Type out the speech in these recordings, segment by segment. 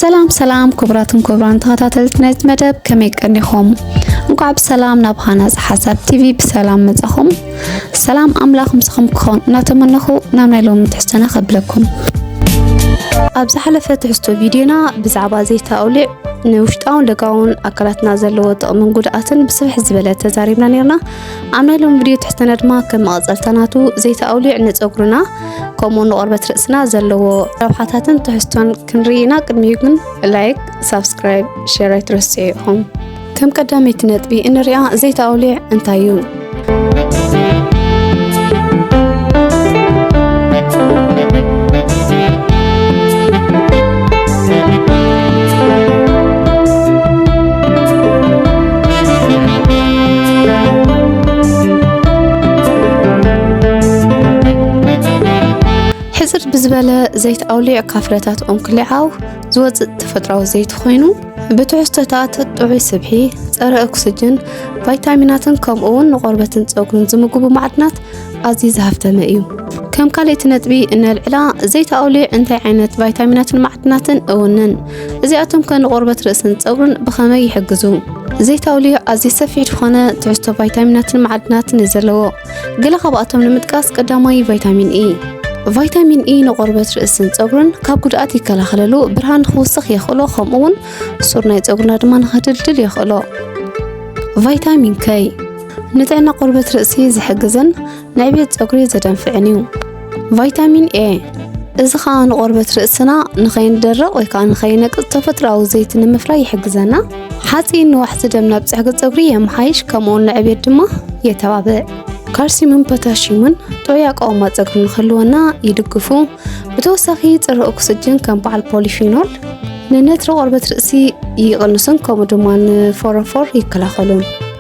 ሰላም ሰላም ክቡራትን ክቡራን ተኸታተልቲ ናይዚ መደብ ከመይ ቀኒኹም? እንኳዕ ብሰላም ናብ ሃናፅ ሓሳብ ቲቪ ብሰላም መጻኹም። ሰላም ኣምላኽ ምስኹም ክኸውን እናተመነኹ ናብ ናይ ሎሚ ትሕዝቶና ከብለኩም። ኣብ ዝሓለፈ ትሕዝቶ ቪድዮና ብዛዕባ ዘይተ ኣውሊዕ ንውሽጣውን ደጋውን ኣካላትና ዘለዎ ጥቕምን ጉድኣትን ብስፍሕ ዝበለ ተዛሪብና ነርና። ኣብ ናይ ሎም ቪድዮ ትሕተና ድማ ከም መቐፀልታ ናቱ ዘይቲ ኣውሊዕ ንፀጉርና ከምኡ ንቆርበት ርእስና ዘለዎ ረብሓታትን ትሕዝቶን ክንርኢ ኢና ቅድሚኡ ግን ላይክ ሳብስክራይብ ሸር ኣይትረስዑ ኢኹም ከም ቀዳመይቲ ነጥቢ እንሪኣ ዘይቲ ኣውሊዕ እንታይ እዩ ሕፅር ብዝበለ ዘይት ኣውሊዕካ ፍረታት ኦንክሊዓው ዝወፅእ ተፈጥሯዊ ዘይት ኮይኑ ብትሕዝቶታት ጥዑይ ስብሒ፣ ፀረ ኦክስጅን፣ ቫይታሚናትን ከምኡ እውን ንቆርበትን ፀጉርን ዝምግቡ ማዕድናት ኣዝዩ ዝሃፍተመ እዩ። ከም ካልእቲ ነጥቢ እነልዕላ ዘይቲ ኣውሊዕ እንታይ ዓይነት ቫይታሚናትን ማዕድናትን እውንን እዚኣቶም ከ ንቆርበት ርእስን ፀጉርን ብኸመይ ይሕግዙ? ዘይቲ ኣውሊዕ ኣዝዩ ሰፊሕ ዝኾነ ትሕዝቶ ቫይታሚናትን ማዕድናትን እዩ ዘለዎ። ገለ ካብኣቶም ንምጥቃስ ቀዳማይ ቫይታሚን ኢ ቫይታሚን ኢ ንቆርበት ርእስን ፀጉርን ካብ ጉድኣት ይከላኸለሉ፣ ብርሃን ንክውስኽ የኽእሎ፣ ከምኡ እውን ሱር ናይ ፀጉርና ድማ ንክድልድል የኽእሎ። ቫይታሚን ከይ ንጥዕና ቆርበት ርእሲ ዝሕግዝን ናይ ቤት ፀጉሪ ዘደንፍዕን እዩ ቫይታሚን ኤ እዚ ከዓ ንቆርበት ርእስና ንኸይንደረቕ ወይ ከዓ ንኸይነቅፅ ተፈጥሮኣዊ ዘይቲ ንምፍራይ ይሕግዘና ሓፂን ንዋሕቲ ደም ናብ ፅሕጊ ፀጉሪ የመሓይሽ ከምኡውን ንዕብየት ድማ የተባብዕ ካልሲምን ፖታሽምን ጥዑይ ኣቃውማ ፀጉሪ ንክህልወና ይድግፉ ብተወሳኺ ፅረ ኦክስጅን ከም በዓል ፖሊፊኖል ንነትሪ ቆርበት ርእሲ ይቕንሱን ከምኡ ድማ ንፎረፎር ይከላኸሉን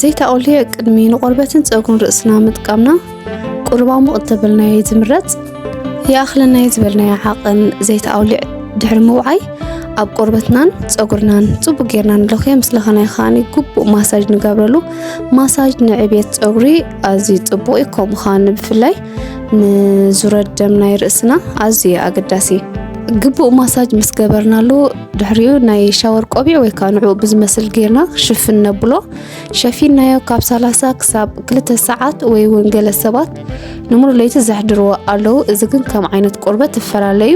ዘይተኣልየ ቅድሚ ንቆርበትን ፀጉርን ርእስና ምጥቃምና ቁርባ ሙቕ እተበልናዮ ዝምረፅ ይኣኽለናዮ ዝበልናዮ ዓቕን ዘይተኣውሊዕ ድሕሪ ምውዓይ ኣብ ቆርበትናን ፀጉርናን ፅቡቅ ጌርና ንለኽዮ ምስ ለኸናዮ ከዓኒ ግቡእ ማሳጅ ንገብረሉ ማሳጅ ንዕብየት ፀጉሪ ኣዝዩ ፅቡቅ እዩ ከምኡ ከዓ ብፍላይ ንዙረት ደም ናይ ርእስና ኣዝዩ ኣገዳሲ እዩ ግቡእ ማሳጅ ምስ ገበርናሉ ድሕሪኡ ናይ ሻወር ቆቢዕ ወይ ከዓ ንዕኡ ብዝመስል ጌርና ሽፍን ነብሎ ሸፊናዮ ካብ 30 ክሳብ 2 ሰዓት ወይ እውን ገለ ሰባት ንሙሉእ ለይቲ ዘሕድርዎ ኣለዉ እዚ ግን ከም ዓይነት ቆርበት እፈላለዩ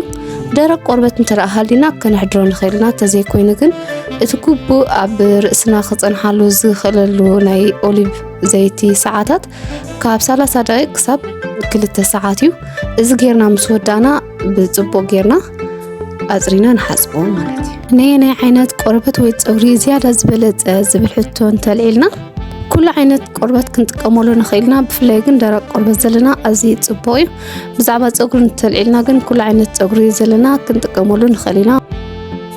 ደረቅ ቆርበት እንተደኣ ሃሊና ከነሕድሮ ንኽእል ኢና እንተዘይኮይኑ ግን እቲ ግቡእ ኣብ ርእስና ክፀንሓሉ ዝኽእለሉ ናይ ኦሊቭ ዘይቲ ሰዓታት ካብ 30 ደቂቅ ክሳብ ክልተ ሰዓት እዩ እዚ ጌርና ምስ ወዳእና ብፅቡቅ ጌርና ኣፅሪና ንሓፅቦ ማለት እዩ ናይ ናይ ዓይነት ቆርበት ወይ ፀጉሪ ዝያዳ ዝበለፀ ዝብል ሕቶ እንተልዒልና ኩሉ ዓይነት ቆርበት ክንጥቀመሉ ንኽእልና ብፍላይ ግን ደረቅ ቆርበት ዘለና ኣዝዩ ፅቡቅ እዩ ብዛዕባ ፀጉሪ እንተልዒልና ግን ኩሉ ዓይነት ፀጉሪ ዘለና ክንጥቀመሉ ንኽእል ኢና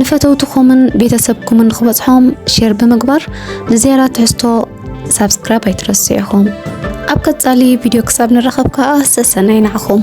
ንፈተውትኹምን ቤተሰብኩምን ክበጽሖም ሼር ብምግባር ንዜራ ትሕዝቶ ሳብስክራይብ ኣይትረስዑ ኢኹም ኣብ ቀጻሊ ቪድዮ ክሳብ ንራኸብ ከዓ ሰሰናይ ናዕኹም